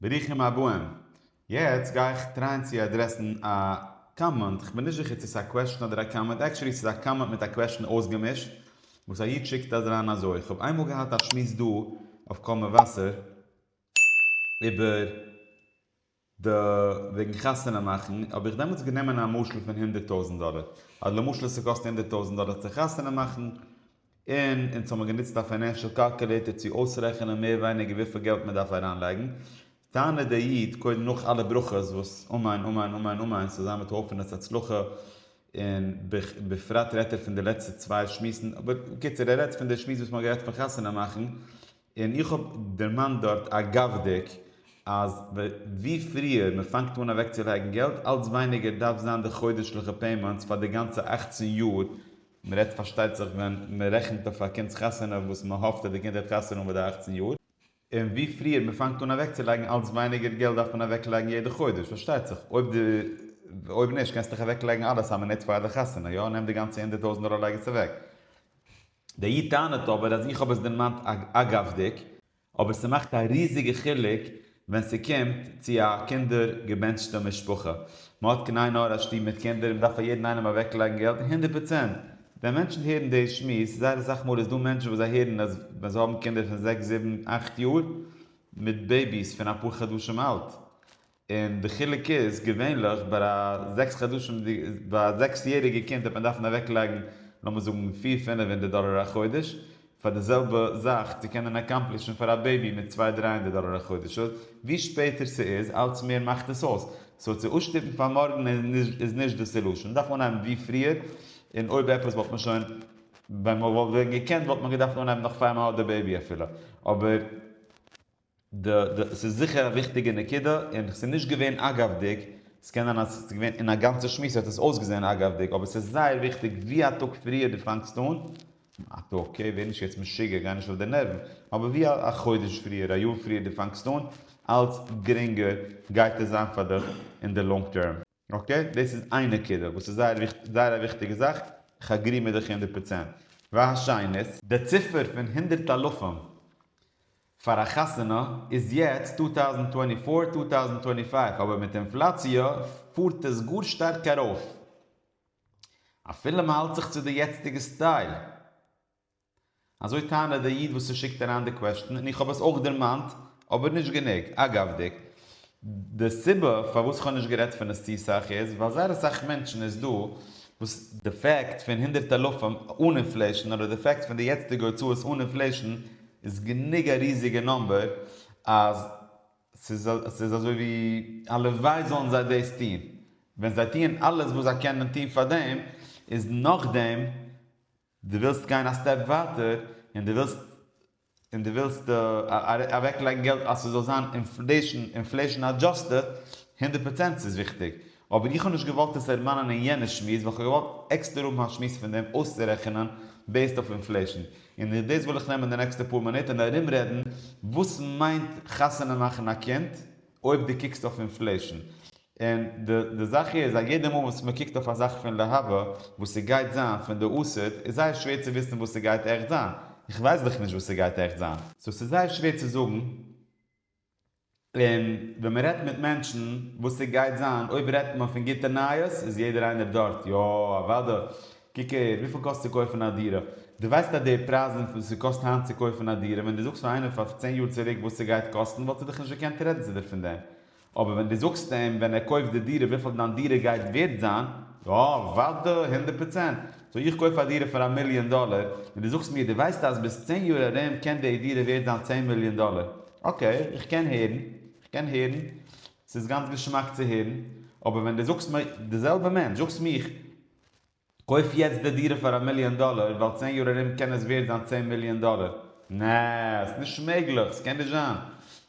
ברוכים הבאים. יעצט גיי איך טרייען צו אדרעסן א קאממענט, כ'בין נישט זיכער צו ס'איז א קוועשן אדער א קאממענט, עקטשולי ס'איז א קאממענט מיט א קוועשן אויסגעמישט, וואס א איד שיקט אריין אזוי, איך האב איינמאל געהאט א שמועס דא אויף קול מבשר איבער די וועגן חתונה מאכן, האב איך דעמאלטס גענומען א משל פון הונדערט טויזנט דאלער, אז למשל ס'קאסט הונדערט טויזנט דאלער צו חתונה מאכן, און אונז האבן גענוצט א פיינענשעל קאלקולעיטער צו אויסרעכענען מער ווייניגער וויפיל געלט מען דארף אריינלייגן, טענה'ט דער איד, קודם נאך אלע ברכות וואס אמן אמן אמן אמן ס'זאל זיין מיט הויפענעס הצלחה, און בפרט רעדט ער פון די לעצטע צוויי שמועסן, אבער בקיצור ער רעדט פון די שמועס וואס מ'האט גערעדט פון חתונה מאכן, און איך האב דערמאנט דארט אגב'דיג אז ווי פריער מ'פאנגט אן אוועקצולייגן געלט אלץ ווייניגער דארף זיין די חודש'ליכע פעימענטס פאר די גאנצע אַכצן יאר מען רעדט פארשטייט זיך ווען מען רעכנט אויף א קינד'ס חתונה וואס מען האפט אז די קינד העט חתונה האבן ביי די אכצן יאר, און ווי פריער מען פאנגט אן אוועקצולייגן אלץ ווייניגער געלט דארף מען אוועקלייגן יעדע חודש, פארשטייט זיך אויב די אויב נישט קענסטו דיך אוועקלייגן אלעס א מינוט פאר די חתונה, יא נעם די גאנצע הונדערט טויזנט דאלער לייג עס אוועק. דער איד טענה'ט אבער אז איך האב עס דערמאנט אגב'דיג, אבער ס'מאכט א ריזיגע חילוק ווען ס'קומט צו א קינדער געבענטשטע משפחה. מ'האט כנהי' נאר א שטוב מיט קינדער און מ'דארף פאר יעדן איינעם אוועקלייגן געלט, הונדערט פראצענט. ווען מענטשן הערן די שמועס, זייער אסאך מאל איז דא מענטשן וואס זיי הערן אז ווען זיי האבן קינדער פון זעקס זיבן אכט יאר, מיט בעיביס פון אפאר חדשים אלט, און די חילוק איז, געווענליך ביי א זעקס חדשים די ביי א זעקס יעריגע קינד העט מען דארפן אוועק לייגן לאמיר זאגן פיר פינעף הונדערט דאלער א חודש פאר די זעלבע זאך צו קענען אקאמפלישן פאר א בעיבי מיט צוויי דריי הונדערט דאלער א חודש אויס ווי שפעטער ס'איז אלץ מער מאכט עס אויס סאו צו אויסשטופן פאר מארגן איז נישט די סעלושען מ'דארף אנהייבן ווי פריער און אויב עפעס וואלט מען שוין ווען מ'וואלט ווען געקענט וואלט מען געדארפט אנהייבן נאך פאר מ'האט די בעיבי אפילו אבער ד ד ס'איז זיכער א וויכטיגע נקודה, און כ'ס'איז נישט געווען אגב'דיג, ס'קען זיין אז ס'איז געווען אין א גאנצע שמועס האט עס אויסגעזען אגב'דיג, אבער ס'איז זייער וויכטיג ווי א טאג פריער דו פאנגסט אן, א טאג, אקעי, ווער נישט יעצט משוגע, גיי נישט אויף די נערוון, אבער ווי א חודש פריער, א יאר פריער דו פאנגסט אן, אלץ גרינגער גייט עס זיין פאר דיך אין די לאנג טערם. אקעי, דאס איז איין נקודה וואס איז זייער זייער א וויכטיגע זאך, כ'אגרי מיט דיך הונדערט פראצענט. והשנית. די ציפער פון הונדערט אלפים פאר א חתונה איז יעצט טו טאוזענד טווענטי פאר, טו טאוזענד טווענטי פייוו אבער מיט אינפלאציע פארט עס גאר שטארק ארויף אפילו מ'האלט זיך צו די יעצטיגע סטייל. אזוי טענה'ט דער איד וואס ס'שיקט אריין די קוועשטן, און איך האב עס אויך דערמאנט, אבער נישט גענוג. אגב'דיג, די סיבה פארוואס כ'האב נישט גערעדט פון עס צו סאך איז, ווייל זייער אסאך מענטשן איז דא וואס, די פעקט פון הונדערט אלפים אן אינפלעישן אדער די פעקט פון די יעצטיגע הוצאות אן אינפלעישן איז גענוג א ריזיגע נאמבער אז ס'איז אזוי ווי הלוואי זאלן זיי דאס טון. ווען זיי טוען אלעס וואס זיי קענען טון פאר דעם, איז נאכדעם דו ווילסט גיין א סטעפ ווייטער און דו ווילסט און דו ווילסט אוועק לייגן געלט אז ס'זאל זיין אינפלעישן אינפלעישן אדזשאסטעד, הונדערט פראצענט ס'איז וויכטיג, אבער איך האב נישט געוואלט עס דערמאנען אין יענע שמועס ווייל כ'האב געוואלט עקסטער האבן א שמועס פון דעם אויסצורעכענען בעיסד אויף אינפלעישן, און דאס וויל איך נעמען די נעקסטע פאר מינוט און ארומרעדן וואס מיינט חתונה מאכן א קינד, אויב דו קוקסט אויף אינפלעישן, און די זאך איז אז יעדע מאל וואס מען קוקט אויף א זאך פון להבא וואס ס'גייט זיין פון די אסד, איז זייער שווער צו וויסן וואס ס'גייט עכט זיין, איך ווייס דאך נישט וואס ס'גייט עכט זיין. סאו ס'איז זייער שווער צו זאגן, און ווען מען רעדט מיט מענטשן וואס ס'גייט זיין, אויב רעדט מען פון גוטע נייעס איז יעדער איינער דארט, יא אוודאי, קוק הער, וויפיל קאסט צו קויפן א דירה? דו ווייסט אז די פרייזן וואס עס קאסט היינט צו קויפן א דירה, ווען דו זאגסט פאר איינעם פאר צען יאר צוריק וואס עס גייט קאסטן וואלט ער דיך נישט געקענט רעדן צו דיר פון דעם. אבער ווען דו זאגסט אים ווען ער קויפט די דירה וויפיל דיין דירה גייט ווערט זיין, יא, אוודאי, הונדערט פראצענט. סאו איך קויף א דירה פאר א מיליאן דאלער, און דו זאגסט מיר דו ווייסט אז ביז צען יאר ארום קען די דירה ווערט זיין צען מיליאן דאלער. אקעי, איך קען הערן, איך קען הערן, ס'איז גאנץ געשמאק צו הערן. אבער ווען דו זאגסט מיר, די זעלבע מענטש, זאגסט מיך, קויף יעצט די דירה פאר א מיליאן דאלער ווייל צען יאר ארום קען עס ווערט זיין צען מיליאן דאלער. נע, ס'איז נישט מעגליך, ס'קען נישט זיין.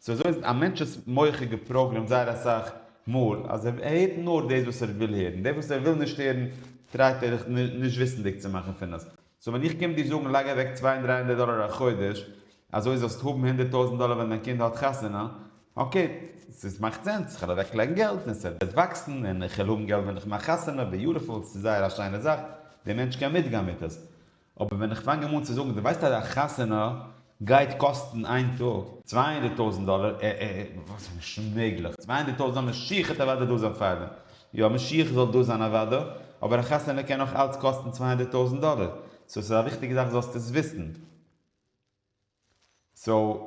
סאו אזוי איז א מענטש'ס מח איז געפראגרעמט זייער אסאך מאל אז ער הערט נאר דאס וואס ער וויל הערן, דאס וואס ער וויל נישט הערן טרייט ער נישט וויסנדיג צו מאכן פון עס. סאו ווען איך קום דיר זאגן לייג אוועק צוויי און דריי הונדערט דאלער א חודש אזוי זאלסט האבן הונדערט טויזנט דאלער ווען דיין קינד האט חתונה, אקעי ס'איז מאכט סענס, כ'על אוועק לייגן געלט און ס'וועט וואקסן און כ'על האבן געלט ווען כ'מאך חתונה, ביוטיפול, ס'איז זייער א שיינע זאך, דער מענטש קען מיטגיין מיט עס. אבער ווען איך פאנג אים אן צו זאגן דו ווייסט אז א חתונה גייט קאסטן איין טאג צוויי הונדערט טויזענט דאלער, ע ע ע וואס איז נישט מעגליך, צוויי הונדערט טויזענט דאלער משיח העט אוודאי דא זיין פארדעם, יא משיח זאל דא זיין אוודאי, אבער א חתונה קען נאך אלץ קאסטן צוויי הונדערט טויזענט דאלער, סאו עס איז א וויכטיגע זאך זאלסט עס וויסן, סאו.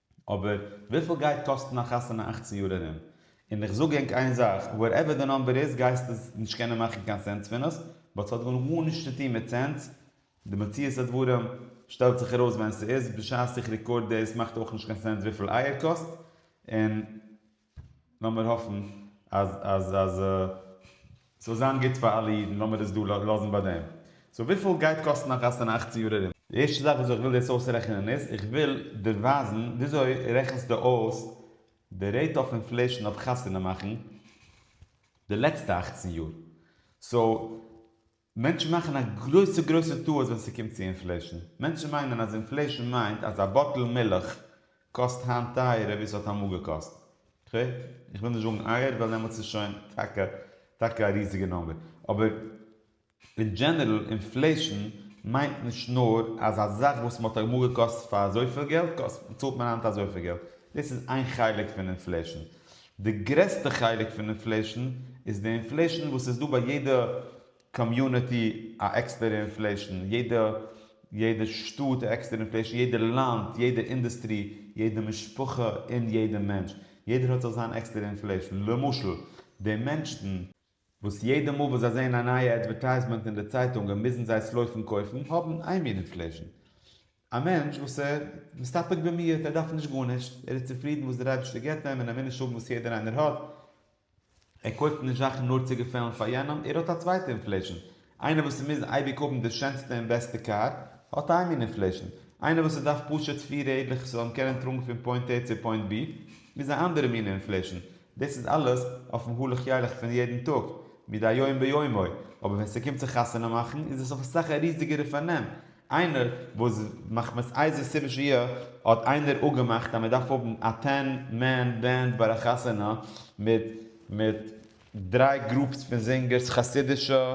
אבער וויפיל גייט קאסטן א חתונה אכצן יאר ארום? און איך זאג ענק איין זאך, וואטעווער די נאמבער איז גייסטו נישט קענען מאכן קיין סענס פון עס, באט ס'האט גאר גארנישט צו טון מיט סענס, די מציאות הדברים שטעלט זיך ארויס ווען ס'איז, בשעת איך רעקארד דאס מאכט אויך נישט קיין סענס וויפיל אייער קאסט, און לאמיר האפן אז אז אז ס'זאל זיין גוט פאר אלע אידן, לאמיר עס דא לאזן ביי דעם. סאו וויפיל גייט קאסטן א חתונה אַכצן יאר ארום? די ערשטע זאך וויאזוי איך וויל דאס אויסרעכענען איז, איך וויל דיר ווייזן וויאזוי רעכנסטו אויס די רעיט אף אינפלעישן אויף חתונה מאכן די לעצטע אַכצן יאר. סאו. מענטשן מאכן א גרויסע גרויסע טעות ווען ס'קומט צו אינפלעישן. מענטשן מיינען אז אינפלעישן מיינט אז א באטל מילך קאסט היינט טייערער ווי ס'האט אמאל געקאסט. איך וויל נישט זאגן אייער ווייל דעמאלטס איז שוין טאקע טאקע א ריזיגע נומבער. אבער אין דזשענערל אינפלעישן מיינט נישט נאר אז א זאך וואס מ'האט אמאל געקויפט פאר אזויפיל געלט קאסט צאלט מען היינט אזויפיל געלט. דאס איז איין חלק פון אינפלעישן. די גרעסטע חלק פון אינפלעישן איז די אינפלעישן וואס איז דא ביי יעדע קאמיוניטי א עקסטערע אינפלעישן, יעדע יעדע שטאט א עקסטערע אינפלעישן, יעדע לאנד, יעדע אינדוסטרי, יעדע משפחה און יעדע מענטש, יעדער האט זיך זיין עקסטערע אינפלעישן, למשל די מענשטן, וואס יעדע מאל וואס זיי זעען א נייע אדווערטייזמענט אין די צייטונגען מוזן זיי עס לויפן קויפן, האבן איין מינוט פלעשן. א מענטש וואס איז מסתפק במועט, ער דארף נישט גארנישט, ער איז צופרידן וואס דער אייבערשטער גיבט אים און ער וויל נישט האבן וואס יעדער איינער האט, ער קויפט נישט זאכן נאר צו געפעלן פאר יענעם, ער האט א צווייטע אינפלעשן, איינער וואס מוז אייביג האבן די שענסטע און בעסטע קאר, האט איין מין אינפלעישן. איינער וואס ס'דארף פשוט פיר רעדלעך ס'זאל אים קענען טראגן פון פוינט עי צו פוינט בי, איז א אנדערע מין אינפלעישן. דאס איז אלעס אויפן הלך ילך פון יעדן טאג, מדי יום ביומו. אבער ווען ס'קומט צו חתונה מאכן, איז עס אויף אסאך א ריזיגערע פארנעם. איינער וואס מחמת איזה סיבה שיהיה, האט איינער אפגעמאכט אז מ'דארף האבן א טען מען בענד ביי א חתונה מיט מיט. דריי גרופס פון זינגערס חסידישע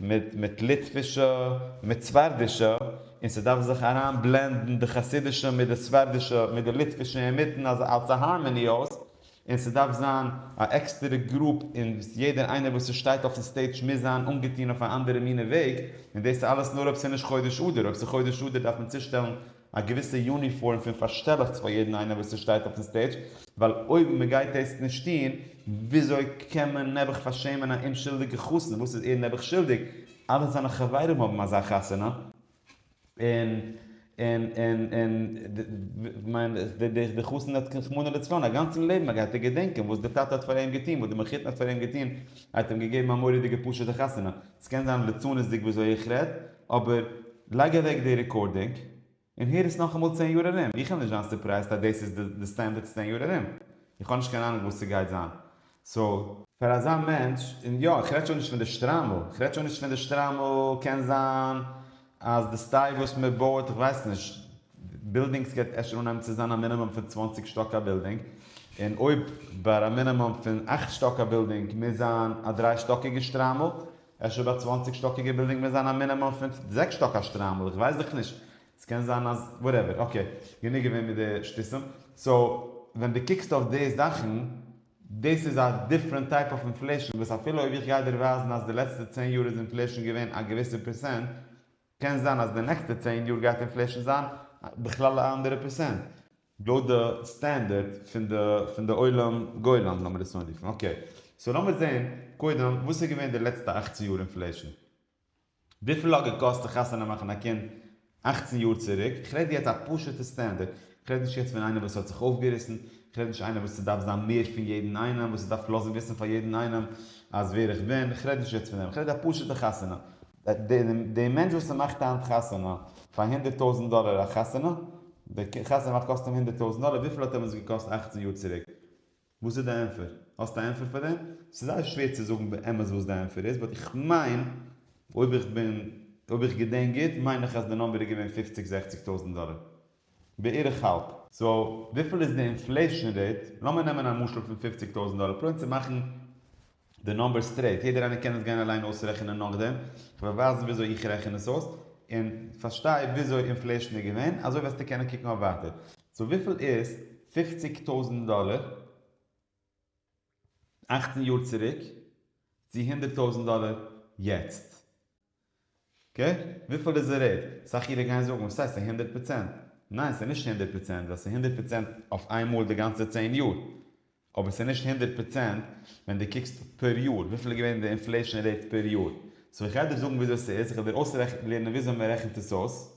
מיט מיט ליטווישע מיט ספרדישע און ס'דארף זיך אריין בלענדן די חסידישע מיט די ספרדישע מיט די ליטווישע אינמיטן אז אלס א הארמעני אויס און ס'דארף זיין א עקסטערע גרופ און יעדער איינער וואס ס'שטייט אויפן סטעידש מוז זיין אנגעטון אויף א אנדערע מינע וועג און דאס איז אלעס נאר אויב ס'נישט חודש אדר אויב ס'חודש אדר דארף מען צושטעלן א געוויסע יוניפארם פון פארשטעלעכטס פאר יעדן איינער וואס ס'שטייט אויפן סטעידזש, ווייל אויב מ'גייט דאס נישט טוהן, וויאזוי קען מען נעבעך פארשעמען א אומשולדיגע חתן, וואס איז ער נעבעך שולדיג, אלע זיינע חברים האבן אזא חתונה, און און און און כ'מיין די חתן האט רחמנא לצלן א גאנצן לעבן, ער גייט ער געדענקען וואס די טאטע האט פאר אים געטוהן, וואס די מחותן האט פאר אים געטוהן, ער האט אים געגעבן א מורא'דיגע פשוט'ע חתונה, ס'קען זיין ליצנות'דיג וויאזוי איך רעד, אבער לייג אוועק די רעקארדינג און הער עס נאכאמאל צען יאר ארום, איך וועל נישט זיין סורפרייזט אז דאס איז די סטענדערד צען יאר ארום, איך האב נישט קיין אהנונג וואס ס'גייט זיין, סאו. פאר אזא מענטש, און יא, כ'רעד שוין נישט פון די שטריימל, כ'רעד שוין נישט פון די שטריימל, קען זיין אז די סטייל וואס מען בויעט, כ'ווייס נישט, בילדינגס גייט אפשר אנהייבן צו זיין א מינימום פון צוואַנציק שטאק א בילדינג, און אויב ביי א מינימום פון אַכט שטאק א בילדינג מוז זיין א דריי שטאקיגע שטריימל, אפשר ביי צוואנציג שטאקיגע בילדינג מוז זיין א מינימום פון זעקס שטאק א שטריימל איך ווייס דאך נישט עס קען זיין אז וואטעווער אקעי גענוג געווען מיט די שטותים סאו ווען די קוקסט אויף די זאכן דאס איז א דיפרענט טייפ אוו אינפלעישן וואס אפילו אויב איך גיי דיר ווייזן אז די לעצטע צען יאר איז אינפלעישן געווען א געוויסע פערסענט קען זיין אז די נעקסטע צען יאר גייט אינפלעישן זיין בכלל א אנדערע פערסענט לויט די סטענדערד פון די פון די עולם גולם לאמיר עס אנרופן אקעי סאו לאמיר זעהן קודם וואס איז געווען די לעצטע אכצן יאר אינפלעישן וויפיל האט געקאסט צו חתונה מאכן א קינד אכצן יאר צוריק איך רעד יעצט א פשוטע סטענדערד איך רעד נישט יעצט פון איינער וואס האט זיך אויפגעריסן איך רעד נישט איינער וואס ס'דארף זיין מער פון יעדן איינעם וואס ס'דארף לאזן וויסן פאר יעדן איינעם אז ווער איך בין איך רעד נישט יעצט פון דעם איך רעד א פשוטע חתונה די מענטש וואס ס'מאכט היינט חתונה פאר הונדערט טויזענט דאלער א חתונה, די חתונה מאכט קאסט אים הונדערט טויזענט דאלער, וויפיל האט אים עס געקאסט אַכצן יאר צוריק? וואס איז די ענפער? האסט א ענפער פאר דעם? ס'איז זייער שווער צו זאגן באמת וואס די ענפער איז, באט איך מיין, אויב איך בין, אויב איך געדענק גוט, מיין איך אז די נאמבער איז געווען פופציג זעכציג טויזענט דאלער. בערך האלב. סאו וויפיל איז די אינפלעישן רעיט? לאמיר נעמען א משל פון פופציג טויזנט דאלער פרויען צו מאכן די נומבער סטרעיט, יעדער איינער קען עס גיין אליין אויסרעכענען נאכדעם, כ'וועל ווייזן וויאזוי איך רעכן עס אויס, און פארשטיי וויאזוי אינפלעישן איז געווען, אזוי וועסטו קענען קוקן אויף ווייטער. סאו וויפיל איז פופציג טויזנט דאלער? אכצן יאר צוריק צו הונדערט טויזענט דאלער יעצט. אקעי? וויפיל איז די רעיט? אסאך אירע גייען זאגן וואס הייסט א הונדערט פראצענט? ניין ס'איז נישט הונדערט פראצענט ווייל ס'איז הונדערט פראצענט אויף איין מאל די גאנצע צען יאר. אבער ס'איז נישט הונדערט פראצענט ווען די קוקסט פער יאר וויפיל איז געווען די אינפלעישאן רעיט פער יאר. סאו איך גיי דיר זאגן וויאזוי ס'איז, איך וועל דיר אויסרעכנט לערנען וויאזוי מ'רעכנט עס אויס.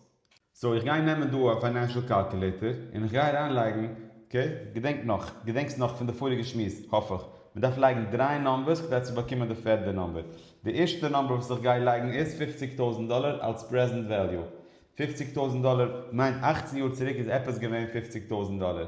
סאו איך גיי נעמען דא א פיינענשעל קאלקולעיטער און איך גיי אריין לייגן, אקעי? געדענק נאך, געדענקסט נאך פון די פאריגע שמועס, האף איך, מען דארף לייגן דריי נאמבערס כדי צו באקומען די פערדע נאמבער. די ערשטע נאמבער וואס איך גיי לייגן איז פופציג טויזנט דאלער אלס פרעזענט וועליו. פופציג טויזנט דאלער מיינט אכצן יאר צוריק איז עפעס געווען פופציג טויזנט דאלער.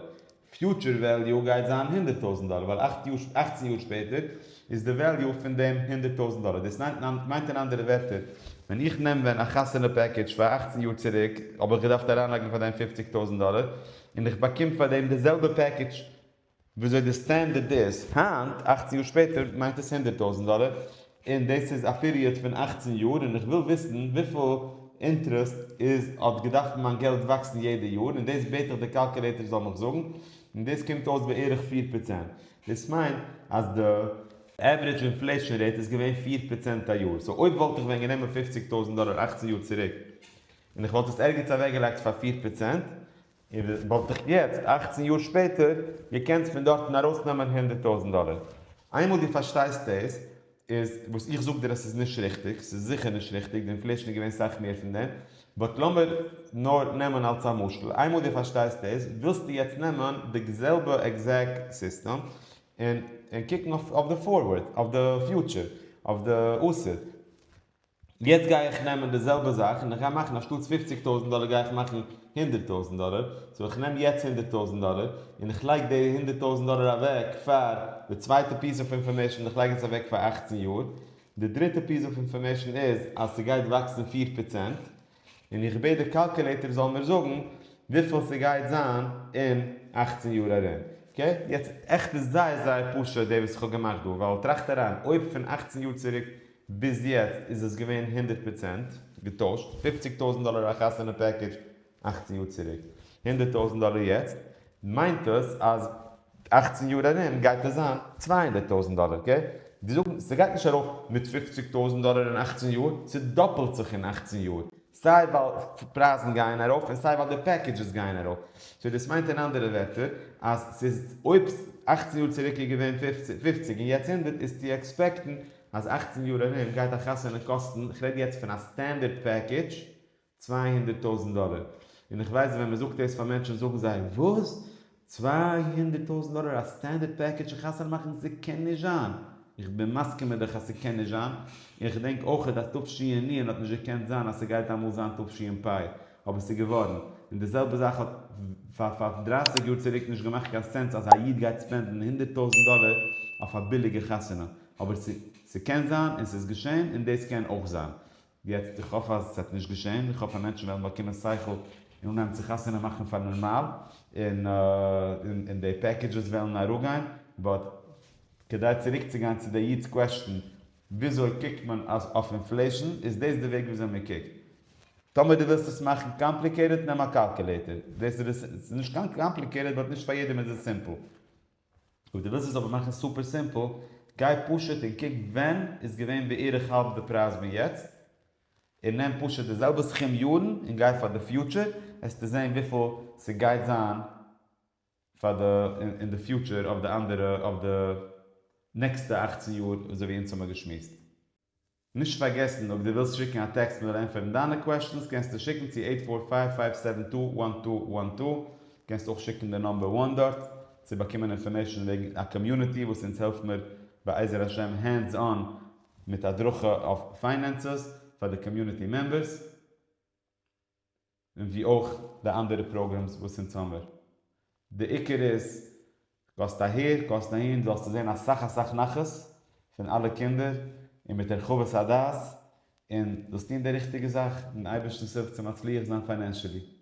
פיוטשער וועליו גייט זיין הונדערט טויזנט דאלער ווייל אַכט יאר אַכצן יאר שפעטער איז די וועליו פון דעם הונדערט טויזנט דאלער דאס מיינט אין אנדערע ווערטער ווען איך נעם ווען א חתונה פעקעדזש פאר אַכצן יאר צוריק האב איך געדארפט אריינלייגן פאר דעם פופציג טויזנט דאלער און איך באקום פאר דעם די זעלבע פעקעדזש וויאזוי די סטענדערד איז היינט אַכצן יאר שפעטער מיינט עס הונדערט טויזנט דאלער. און דאס איז א פיריעד פון אַכצן יאר און איך וויל וויסן וויפיל אינטרעסט איז האט געדארפט מיין געלט וואקסן יעדע יאר און דאס בעט איך די קאלקעלעיטער זאל מיך זאגן און דאס קומט אויס בערך פֿיר פראצענט דאס מיינט אז די עוורידזש אינפלעישאן רעיט איז געווען פֿיר פראצענט א יאר סאו אויב וואלט איך ווען גענומען פֿופֿציק טויזנט דאלער אַכצן יאר צוריק און איך וואלט עס ערגעץ אוועקגעלייגט פאר פֿיר פראצענט און וואלט איך יעצט, אכצן יאר שפעטער, געקענט פון דארטן ארויסנעמען הונדערט טויזנט דאלער. איינמאל דו פארשטייסט דאס, איז וואס איך זאג דיר אז ס'איז נישט ריכטיג, ס'איז זיכער נישט ריכטיג, די אינפלעישן איז געווען סאך מער פון דעם, באט לאמיר נאר נעמען אלס א משל, איינמאל דו פארשטייסט דאס, ווילסטו יעצט נעמען די זעלבע עקזעקט סיסטעם, און קוקן אויף די פארווערד, אויף די פיוטשער, אויף די עתיד. יעצט גיי איך נעמען די זעלבע זאך און איך גיי מאכן אנשטאטס פופציג טויזנט דאלער גיי איך מאכן הונדערט טויזנט דאלער, סאו איך נעם יעצט הונדערט טויזנט דאלער און איך לייג די הונדערט טויזנט דאלער אוועק פאר די צווייטע פיס אוו אינפארמעישן איך לייג עס אוועק פאר אַכצן יאר, די דריטע פיס אוו אינפארמעישן איז אז ס'גייט וואקסן פֿיר פראצענט, און איך בעט די קאלקעלעיטער זאל מיר זאגן וויפיל ס'גייט זיין אין אַכצן יאר ארום. אקעי? יעצט עכט איז זייער זייער פשוט די וואס איך האב געמאכט דא, ווייל טראכט אריין, אויב פון אַכצן יאר צוריק ביז יעצט איז עס געווען הונדערט פראצענט געטוישט, פופציג טויזנט דאלער א חתונה פעקעדזש אַכצן יאר צוריק, הונדערט טויזנט דאלער יעצט, מיינט עס אז אַכצן יאר ארום גייט עס זיין צוויי הונדערט טויזנט דאלער אקעי די זאגן ס'גייט נישט ארויף מיט פופציג טויזנט דאלער אין אַכצן יאר ס'דאפלט זיך אין אַכצן יאר סיי ווייל פרייזן גייען ארויף און סיי ווייל די פעקעדזשעס גייען ארויף סאו דאס מיינט אין אנדערע ווערטער אז ס'איז אויב אַכצן יאר צוריק איז געווען פופציג און יעצט הונדערט איז צו עקספעקטן אז אַכצן יאר ארום גייט א חתונה קאסטן כ'רעד יעצט פון א סטענדערט פעקעדזש צוויי הונדערט טויזנט דאלער, און איך ווייס ווען מ'זאגט דאס פאר מענטשן זאגן זיי, וואס? צוויי הונדערט טויזנט דאלער א סטענדערט פעקעדזש און חתונה מאכן? ס'קען נישט זיין! איך בין מסכים מיט דיך אז ס'קען נישט זיין, און איך געדענק אויכעט אז תשענ האט נישט געקענט זיין אז ס'גייט אמאל זיין תשפ אבער ס'געווארן, און די זעלבע זאך האט פאר פאר דרייסיג יאר צוריק נישט געמאכט קיין סענס אז א איד גייט ספענדן הונדערט טויזנט דאלער אויף א ביליגע חתונה, אבער ס'קען זיין און ס'איז געשען און דאס קען אויך זיין. יעצט איך האף אז עס וועט נישט געשען, איך האף אז מענטשן וועלן באקומען שכל און אנהייבן צו חתונה מאכן פאר נארמאל, און די פעקעדזשעס וועלן אראפגיין, באט כדי צוריקצוגיין צו די איד'ס קוועסטשן, וויאזוי קוקט מען אויף אינפלעישן, איז דאס די וועג וויאזוי מען קוקט? טאמער דו ווילסט עס מאכן קאמפליקעיטעד נעם א קאלקולעיטער, דאס איז נישט קיין קאמפליקעיטעד באט נישט פאר יעדעם איז עס סימפל. אויב דו ווילסט עס אבער מאכן סופער סימפל, גיי פשוט און קוק ווען איז געווען בערך האלב די פרייז פון יעצט, און נעם פשוט די זעלבע סכום יארן און גיי פאר די פיוטשער, וועסטו זען וויפיל ס'גייט זיין פאר די אין די פיוטשער אויף די אנדערע אויף די נעקסטע אכצן יאר אזוי ווי אונז האמיר געשמועסט. נישט פארגעסן אויב דו ווילסט שיקן א טעקסט מיר ענטפערן דיינע קוועשטענס קענסטו שיקן צו עיט פאר פייוו פייוו סעווען טו וואן טו וואן טו, קענסט אויך שיקן די נאמבער וואן דארט צו באקומען אינפארמעישן וועגן א קאמיוניטי וואס אונז העלפט מיר בעזר השם הענדס אן מיט הדרכה אויף פיינענסעס פאר די קאמיוניטי מעמבערס. און ווי אויך די אנדערע פראגרעמס וואס אין סאמער. די עיקר איז גייסט אהער גייסט אהין זאלסטו זען אסאך אסאך נחת פון אלע קינדער און מיט הרחבת הדעת און זאלסט טון די ריכטיגע זאך און אייבערשטנס הילף צו מצליח זיין פיינענשעלי.